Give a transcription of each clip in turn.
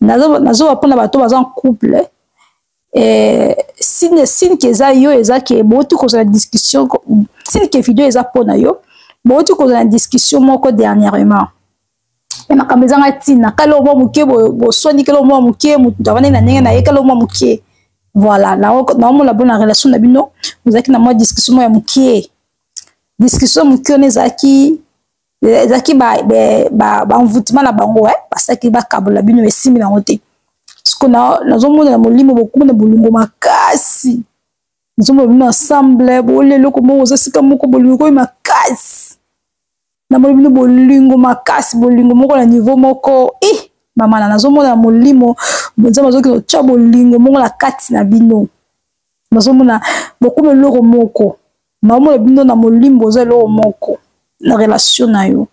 nazoba mpona bato baza en couple eh, sine sine ke eza yo eza ke bouti kozala discussion sine ke video eza mpo na yo bouti kozala na discussion moko dernièrement me makambo ezanga ntina kala omwa moke boswani kala omwa moke moto avandi na ndenge na ye kala omwa moke voilà naomona bo na relation na bino ozalaki na mwa discussion moko ya moke discussion moke wana ezalaki ezalaki baenvoutement na bango eh, basalaki bakabola bino esimbi nango te siko nazomona na molimo bokomi na bolingo makasi nazomona bino ensemble bolia eloko moko oza sika moko bolingo ekomi makasi namoni bino bolingo makasi bolingo moko na niveau moko i eh, mamana nazomona na molimo nzambe azokende otya bolingo moko na kati na bino nazomona bokomi eloko moko naomona bino na molimbo oza eloko moko na relation na yo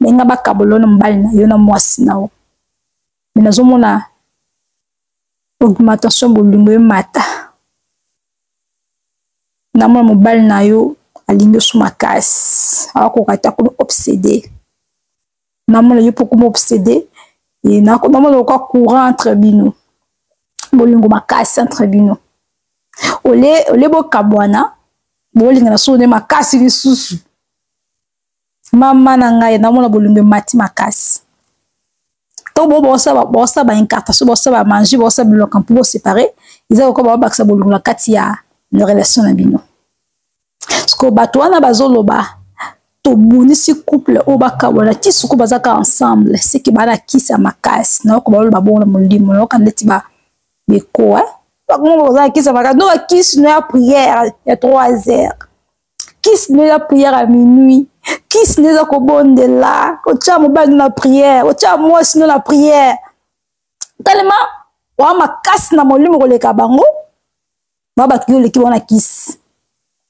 me nga bakabola yo na mobali na yo na mwasi na yo me nazomona augmentation bolingo emata namona mobali na yo alingi osu makasi akoka ata komi obsede namona yo poko m'obsede namona lokwa courant entre bino bolingo makasi entre bino ole ole bokabwana bolingana soko nde makasi lisusu mama na ngai namona bolingo emati makasi ntango bo baosala baincartation baosala bamange baosala biloko mpo bosepare eza lokola babakisa bolingo na kati ya na relation na bino sikoyo bato wana bazoloba tomonisi couple oyo bakabwana ti suku bazaka ensemble seke balakisa makasi nayoka baloba bongo na molimo nayoka ndeti bekoa bakongo kozala kisa makasi no bakisi no ya priere ya 3 heures kisi no eza priere ya minuit kisi no eza kobondela kotya mobali no na priere kotya mwasi no na priere talema oa makasi na molimo koleka bango ba ba kilo leki wana kisi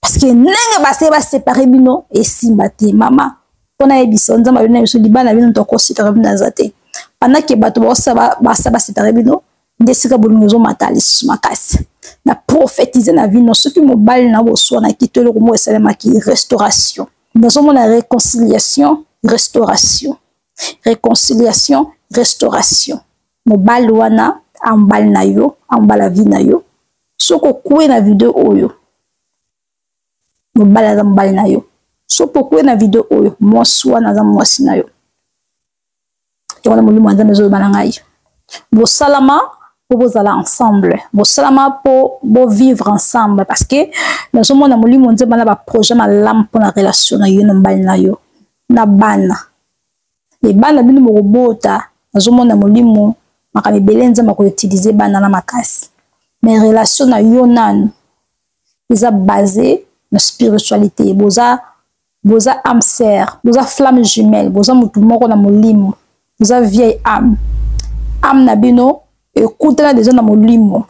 parce que ndenge ba se ba séparer bino esimba te mama pona ye biso nzamba bino biso libana bino to ko sita bino na zate pendant que bato ba sa ba ba sa ba séparer bino nde esika bolingo ezomata lisusu makasi na prophétise na vino soki mobali na boswanaki to eloko moko esalemaki restauration nazomona réconciliation restauration réconciliation restauration mobali wana a mobali na yo a mobala vie na yo soki okue na video oyo mobali aza mobali na yo soki okue na video oyo mwasi wana aza mwasi na yo yango na molimo ya nzambe ezoloba na ngai bosalama mpo bozala ensemble bosalama mpo bovivre ensemble parce que nazomona molimo nzemba na baprojet malamu mpo na relation na yo na mobali na yo na bana mais bana bino bokobota nazomona molimo makambo ebele nzambe akoutilize bana na makasi mais relation na yo nanu eza base na spiritualité boza boza ame sœur boza flamme jumelle boza motu moko na molimo boza vieille ame ame na bino ekutana deja na molimo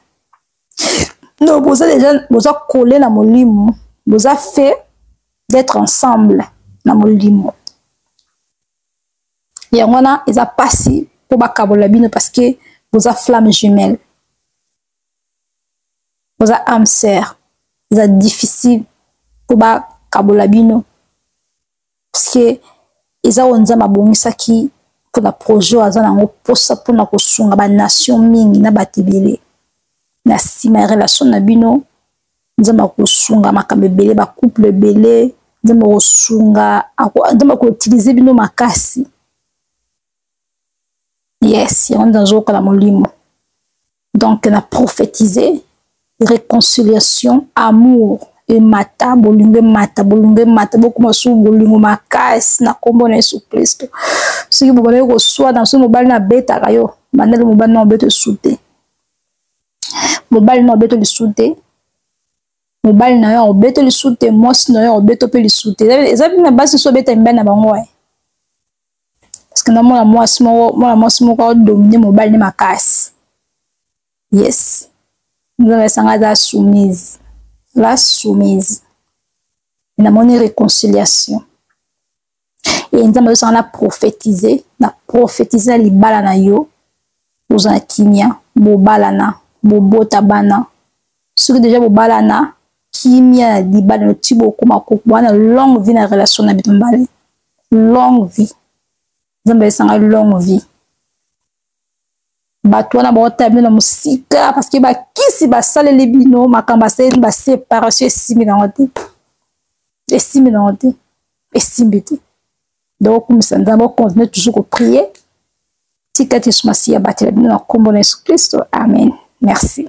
no boza deja boza kole na molimo boza fe d'être ensemble na molimo yango wana eza mpasi mpo bakabola bino parce que boza flamme jumelle boza ame sœur eza difficile mpo bakabola bino parce que eza oyo nzambe abongisaki mpo na projet oyo aza na yango mposa mpo na kosunga banation mingi na bato ebele na nsima ya relation na bino nzambe akosunga makambo ebele bacouple ebele nzambe akosunga nzambe akoutilize bino makasi yes yango nde nazoyoka na molimo donc na prophétise réconciliation amour emata bolingo emata bolingo emata bokoma su bolingo makasi na nkombo na yesu kristo soki bobandaki koswana soki mobali nabetaka yo bandali mobali na obeta esu te mobali na obeto lisu te mobali na yo obeto lisu te mwasi na yo obeto mpe lisu te eza mpe na basi so obeta mibali na bango e parce que na mwana mwasi moko mwana mwasi moko adomine mobali ne makasi yes nzambe esanga aza soumise la soumise namoni réconciliation e nzambe azosanga na profetize na profetize na libala na yo ozala na kimia bobalana bobota bana soki deja bobalana kimia na libala no ti bokoma kokwana longue vie na relation na bino mbale longue vie nzambe azosanga longue vie bato wana baotala bino na mosika parce que bakisi basaleli bino makambo asaleli baseparation esimbi nango te esimbi nango te esimbi te donc okumisa nzambe ocontinue toujours koprie tika te yesu masiya abatela bino na nkombo na yesu kristo amen merci